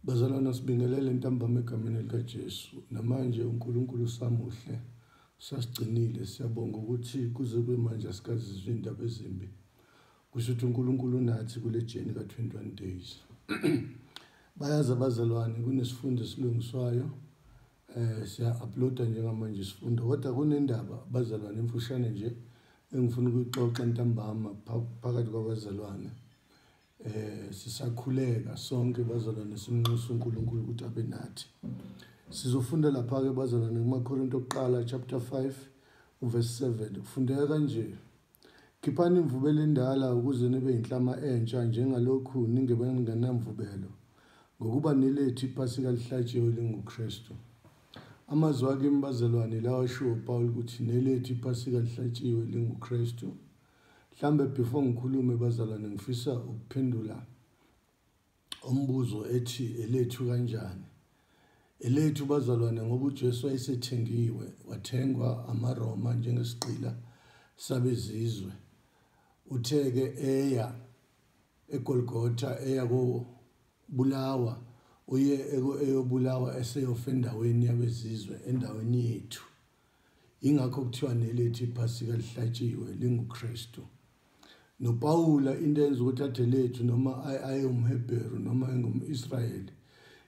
Bazalwana sibingelele ntambama egameni likaJesu namanje uNkulunkulu usamuhle usasigcinile siyabonga ukuthi kuze kube manje asikazizwe indaba ezimbi kusho ukuthi uNkulunkulu unathi kule jeni ka-21 days bayazi abazalwane kunesifundo esilungiswayo Eh siya-uploada njengamanje isifunda kodwa kunendaba bazalwane emfushane nje engifuna ukuyixoxa ntambama phakathi kwabazalwane. Eh sisakhuleka sonke bazalwane simnxusa uNkulunkulu ukuthi abe nathi. Sizofunda lapha-ke bazalwane kumaKorinto okuqala chapter 5 verse 7 kufundeka kanje. Khiphani imvubelo endala ukuze nibe inhlama entsha njengalokhu ningebengenamvubelo, ngokuba nilethe iPhasika elihlatshiwe elinguKristu. Amazwi akimi bazalwane lawa ashiwo uPawulu ukuthi nelethe iPhasika elihlatshiwe elinguKristu. Mhlambe before ngikhulume bazalwane ngifisa ukuphendula umbuzo ethi elethu kanjani elethu bazalwane ngoba uJesu wayesethengiwe wathengwa amaRoma njengesigqila sabezizwe utheke eya eGolgotha eya kobulawa uye eyobulawa eseyofa endaweni yabezizwe endaweni yethu ingakho kuthiwa nelethu iphasika lihlatshiwe linguKristu nopawula into enza ukuthi athe lethu noma ayewumhebheru noma engum-israyeli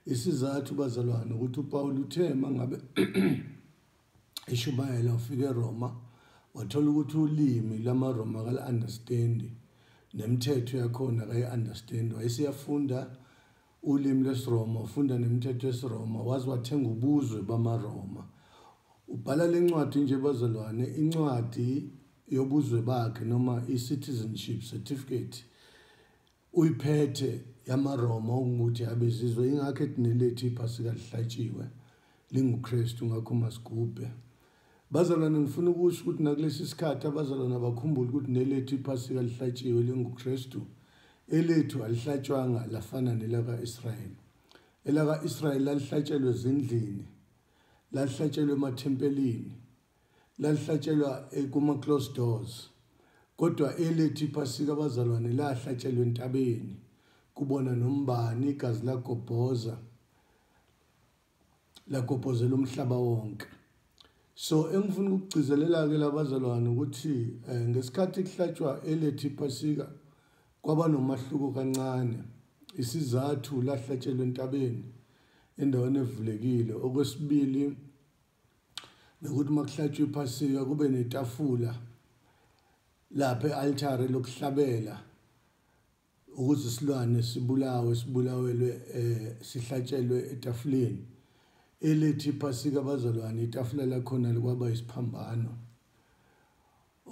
isizathu bazalwane ukuthi upawula uthe ma ngabe eshumayela ufike eroma wathola ukuthi ulimi lamaroma kala-understandi nemithetho yakhona kayi-understandi wayeseyafunda ulimi lwesiRoma ufunda nemithetho yesiRoma waze wathenga ubuzwe bamaRoma ubhala le ncwadi nje bazalwane incwadi yobuzwe bakhe noma i-citizenship certificate uyiphethe yamaRoma okungukuthi yabezizwe ingakho ethi nelethu iphasi kalihlatshiwe linguKristu ngakho masigubhe Bazalwane ngifuna ukusho ukuthi nakulesi sikhathi abazalwane abakhumbule ukuthi nelethu iphasika lihlatshiwe linguKristu elethu alihlatshwanga lafana nelaka-Israyeli elaka-Israyeli lalihlatshelwe ezindlini lalihlatshelwe emathempelini lalihlatshelwa eh, kuma-close doors kodwa elethu iphasika abazalwane lahlatshelwe entabeni kubona nombani igazi lagobhoza lagobhozela umhlaba wonke so engifuna ukugcizelela-ke labazalwane ukuthi um ngesikhathi kuhlatshwa elethi iphasika kwaba nomahluko kancane isizathu lahlatshelwa entabeni endaweni evulekile okwesibili nokuthi uma kuhlatshwa iphasika kube netafula lapha e-altare lokuhlabela ukuthi isilwane sibulawe sibulawelwe eh sihlatshelwe etafuleni elethi phasika abazalwane itafula lakhona likwaba isiphambano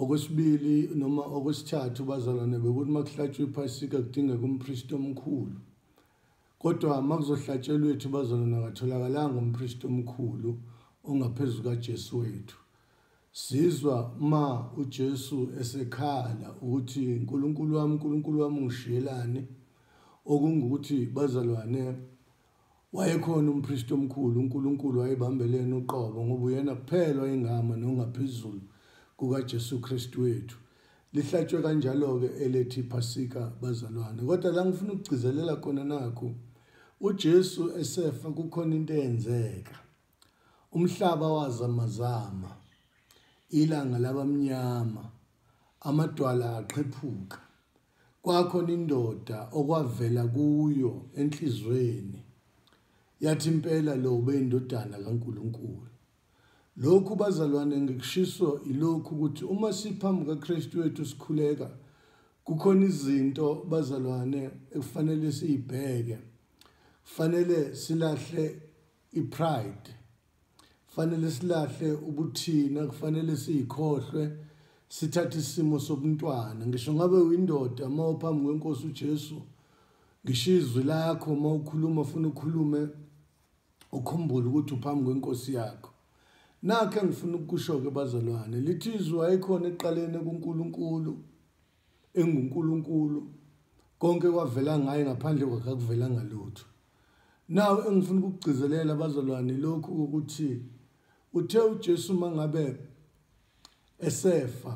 okwesibili noma okwesithathu bazalwane bekuthi makuhlatshwa iphasika kudingeka umpristi omkhulu kodwa makuzohlatshelwa ethu bazalwane akatholakalanga umpristi omkhulu ongaphezulu kaJesu wethu Sizwa ma uJesu esekhala ukuthi uNkulunkulu wami uNkulunkulu wami ungishiyelani okungukuthi bazalwane wayekhona umpristi omkhulu uNkulunkulu wayebambelene uqobo ngoba uyena kuphela ingama nongaphezulu kukaJesu Kristu wethu lihlatshwe kanjalo-ke elethi phasika bazalwane kodwa la ngifuna ukugcizelela khona nakho uJesu esefa kukhona into eyenzeka Umhlaba wazamazama, ilanga labamnyama, amadwala aqhephuka. Kwakhona indoda okwavela kuyo enhlizweni yathi impela lo beyindodana kaNkulunkulu. Lokhu bazalwane ngikushiso ilokhu ukuthi uma siphambi kaKristu wethu sikhuleka kukhona izinto bazalwane ekufanele siyibheke. Kufanele silahle ipride fanele silahle ubuthina kufanele siyikhohlwe sithathe isimo sobuntwana ngisho ngabe uyindoda uma uphambi kwenkosi uJesu ngisho izwi lakho uma ukhuluma ufuna ukhulume ukhumbule ukuthi uphambi kwenkosi yakho nakhe ngifuna ukusho-ke bazalwane lithi izwi wayekhona ekuqaleni kunkulunkulu enguNkulunkulu konke kwavela ngaye ngaphandle kwakhe akuvelanga lutho nawo engifuna ukugcizelela abazalwane lokhu ukuthi uthe uJesu mangabe esefa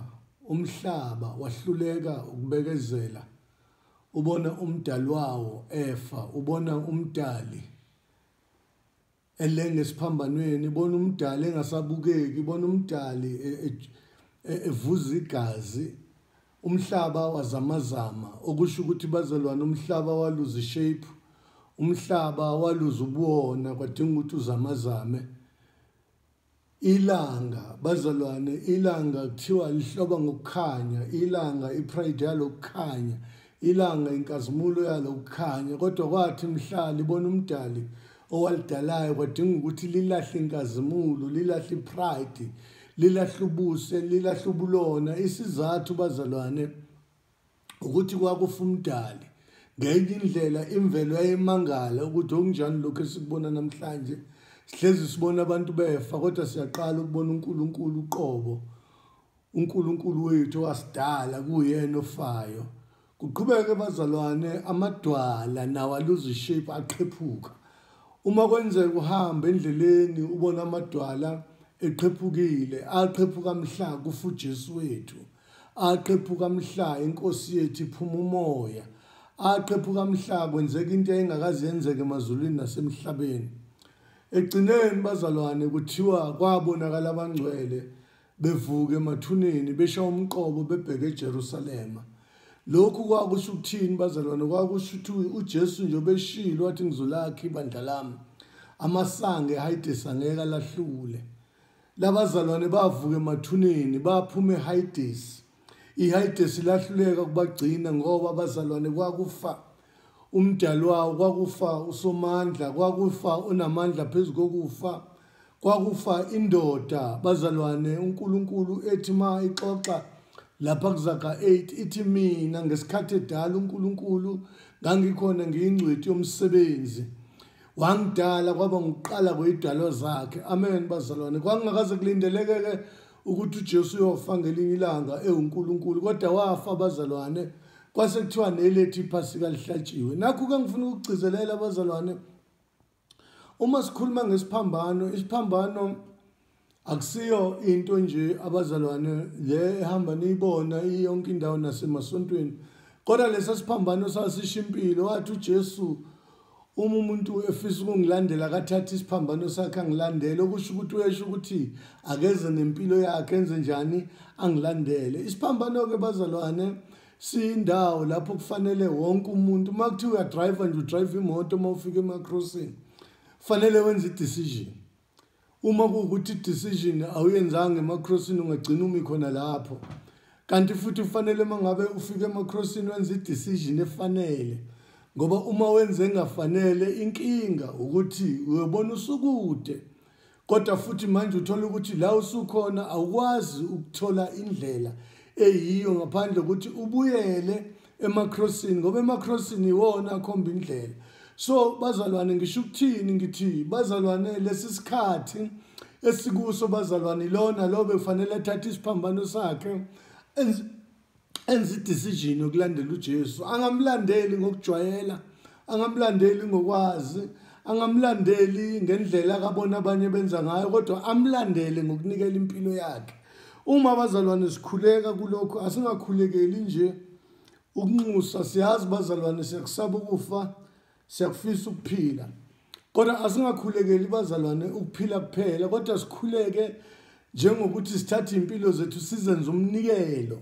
umhlaba wahluleka ukubekezela ubona umdali wawo efa ubona umdali elenge esiphambanweni ibona umdali engasabukeki ibona umdali e, e, e, evuza igazi umhlaba wazamazama okusho ukuthi bazalwane umhlaba waluza ishape umhlaba waluza ubuwona kwadinga ukuthi uzamazame Ilanga bazalwane ilanga kuthiwa lihloba ngokukhanya ilanga ipride yalo kukhanya ilanga inkazimulo yalo kukhanya kodwa kwathi mhlali bona umdali owalidalayo kwadinga ukuthi lilahle inkazimulo lilahle ipride lilahle ubuse lilahle ubulona isizathu bazalwane ukuthi kwakufa umdali ngenye indlela imvelo yayimangala ukuthi okunjani lokhu esikubona namhlanje sihlezi sibona abantu befa kodwa siyaqala ukubona uNkulunkulu uqobo uNkulunkulu wethu wasidala kuyena ofayo kuqhubeke bazalwane amadwala nawo aluze shape aqhephuka uma kwenzeka uhamba endleleni ubona amadwala eqhephukile aqhephuka mhla kufuJesu wethu aqephuka mhla inkosi yethu iphuma umoya aqephuka mhla kwenzeka into eyayingakaze yenzeke emazulwini nasemhlabeni egcineni bazalwane kuthiwa kwabonakala abangcwele bevuka emathuneni besha umqobo bebheke eJerusalema lokhu kwakusho ukuthini bazalwane kwakusho ukuthi uJesu nje obeshilo wathi ngizolakha ibandla lami amasange hayidesa ngeke alahlule Labazalwane bavuka emathuneni baphuma eHayidesi. IHayidesi lahluleka kubagcina ngoba abazalwane kwakufa umdali wawo kwakufa usomandla kwakufa onamandla phezu kokufa kwakufa indoda bazalwane uNkulunkulu ethi ma ixoxa lapha kuzaga 8 ithi mina ngesikhathi edala uNkulunkulu ngangikhona ngiyingcweti yomsebenzi wangidala kwaba ngiqala kweyidalo zakhe amen bazalwane kwangingakaze kulindeleke-ke ukuthi ujesu uyofa ngelinye ilanga ewunkulunkulu kodwa wafa abazalwane kwase kuthiwa nelethi iphasika lihlatshiwe nakho-ke ngifuna ukugcizelela abazalwane uma sikhuluma ngesiphambano isiphambano akusiyo into nje abazalwane le ehamba niyibona iyonke indawo nasemasontweni kodwa lesa siphambano sasisho impilo wathi ujesu uma umuntu efisa ukungilandela akathathe isiphambano sakhe angilandele okusho ukuthi uyesho ukuthi akeze nempilo yakhe enze njani angilandele isiphambano-ke bazalwane siyindawo lapho kufanele wonke umuntu uma kuthiwa uyadrayiva nje udrayiva imoto uma ufika emacrossing kufanele wenze i-decision uma kuwukuthi decision awuyenzanga emacrossini ungagcina umi khona lapho kanti futhi kufanele uma ngabe ufike emacrossini wenza i-decision efanele ngoba uma wenze engafanele inkinga ukuthi uyobona usukude kodwa futhi manje uthola ukuthi la usukhona awukwazi ukuthola indlela eyiyo ngaphandle ukuthi ubuyele emacrossini ngoba emacrossini iwona akhomba indlela so bazalwane ngisho ukuthini ngithi bazalwane lesi sikhathi esikuso bazalwane ilona lo bekufanele athathe isiphambano sakhe enza idecision yokulandela uJesu angamlandeli ngokujwayela angamlandeli ngokwazi angamlandeli ngendlela akabona abanye benza ngayo kodwa amlandele ngokunikela impilo yakhe Uma abazalwane sikhuleka kulokho asingakhulekeli nje ukunxusa siyazi bazalwane siyakusaba ukufa siyakufisa ukuphila kodwa asingakhulekeli bazalwane ukuphila kuphela kodwa sikhuleke njengokuthi sithathe impilo zethu sizenze umnikelo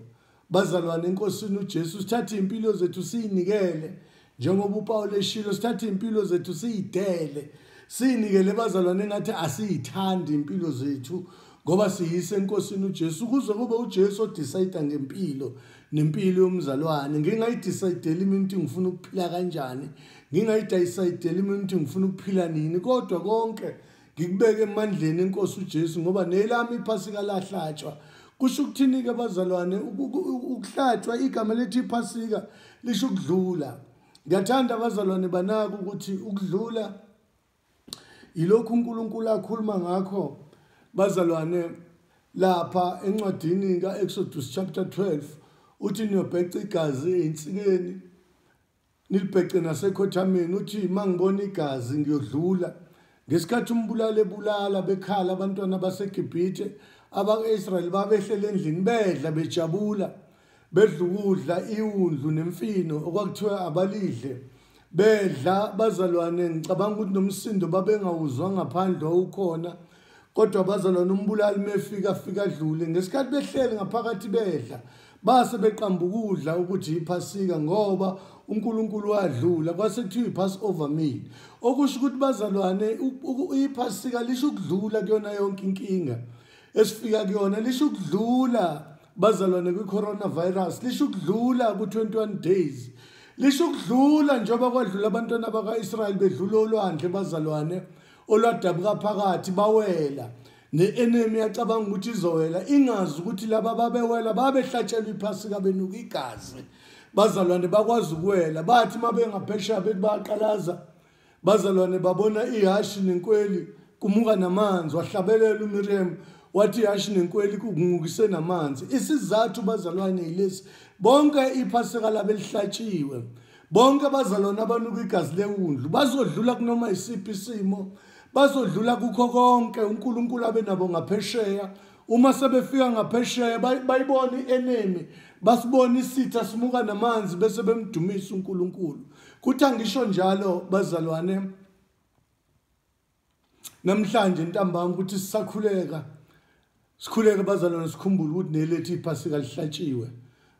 Bazalwane enkosini uJesu sithatha impilo zethu siyinikele njengoba uPaul eshilo sithatha impilo zethu siyidele siyinikele bazalwane ngathi asiyithandi impilo zethu ngoba siyise enkosini uJesu kuze kube uJesu odecide ngempilo nempilo yomzalwane ngingayidecideli mina ukuthi ngifuna ukuphila kanjani ngingayidecideli mina ukuthi ngifuna ukuphila nini kodwa konke ngikubeke emandleni enkosi uJesu ngoba nelami iphasika lahlatshwa kusho ukuthini ke bazalwane ukuhlatshwa igama lethi iphasika lisho ukudlula ngiyathanda abazalwane banaka ukuthi ukudlula yilokhu uNkulunkulu akhuluma ngakho bazalwane lapha encwadini kaExodus chapter 12 uthi niyobheca igazi einsikeni nilibhece nasekhothameni uthi uma ngibona igazi ngiyodlula ngesikhathi umbulali ebulala bekhala abantwana basegibhithe abaka-israyeli babehlela endlini bedla bejabula bedla ukudla iwundlu nemfino okwakuthiwa abalidle bedla bazalwane ngicabanga ukuthi nomsindo babengawuzwa ngaphandle wawukhona kodwa bazalwane umbulali mefika afika adlule ngesikhathi behleli ngaphakathi bedla base beqamba ukudla ukuthi yiphasika ngoba uNkulunkulu wadlula kwase kuthiwa ipass over meal okusho ukuthi bazalwane iphasika lisho ukudlula kuyona yonke inkinga esifika kuyona lisho ukudlula bazalwane kwi-coronavirus lisho ukudlula ku-21 days lisho ukudlula njengoba kwadlula abantwana baka-israyeli bedlula olwandle bazalwane olwadabuka phakathi bawela ne-enemy yacabanga ukuthi izowela ingazi ukuthi laba babewela babehlatshelwa iphasika benuka igazi bazalwane bakwazi ukuwela bathi uma bengaphesheya bethi bayaqalaza bazalwane babona ihashi nenkweli kumuka namanzi wahlabelela umiriyam wathi ihashi nenkweli kungukise namanzi isizathu bazalwane yilesi bonke iphasika labelihlatshiwe bonke abazalwane abanuka igazi lewundlu bazodlula kunoma yisiphi isimo bazodlula kukho konke unkulunkulu abe nabo ngaphesheya uma sebefika ngaphesheya bayibona i-enemy basibona isitha simuka namanzi bese bemdumisa unkulunkulu kuthi angisho njalo bazalwane namhlanje ntambama ukuthi sisakhuleka sikhuleke bazalwane sikhumbule ukuthi nelethu iphasika lihlatshiwe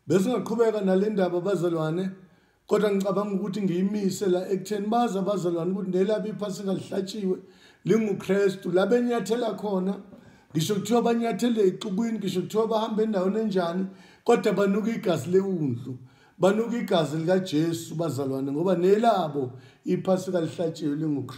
besingaqhubeka nale ndaba bazalwane kodwa ngicabanga ukuthi ngiyimise la ekutheni bazi abazalwane ukuthi nelabo iphasika lihlatshiwe lingukristu la benyathela khona ngisho kuthiwa banyathele exukwini ngisho kuthiwa bahambe endaweni enjani kodwa banuka igazi lewundlu banuka igazi likajesu bazalwane ngoba nelabo iphasika lihlatshiwe lingukristu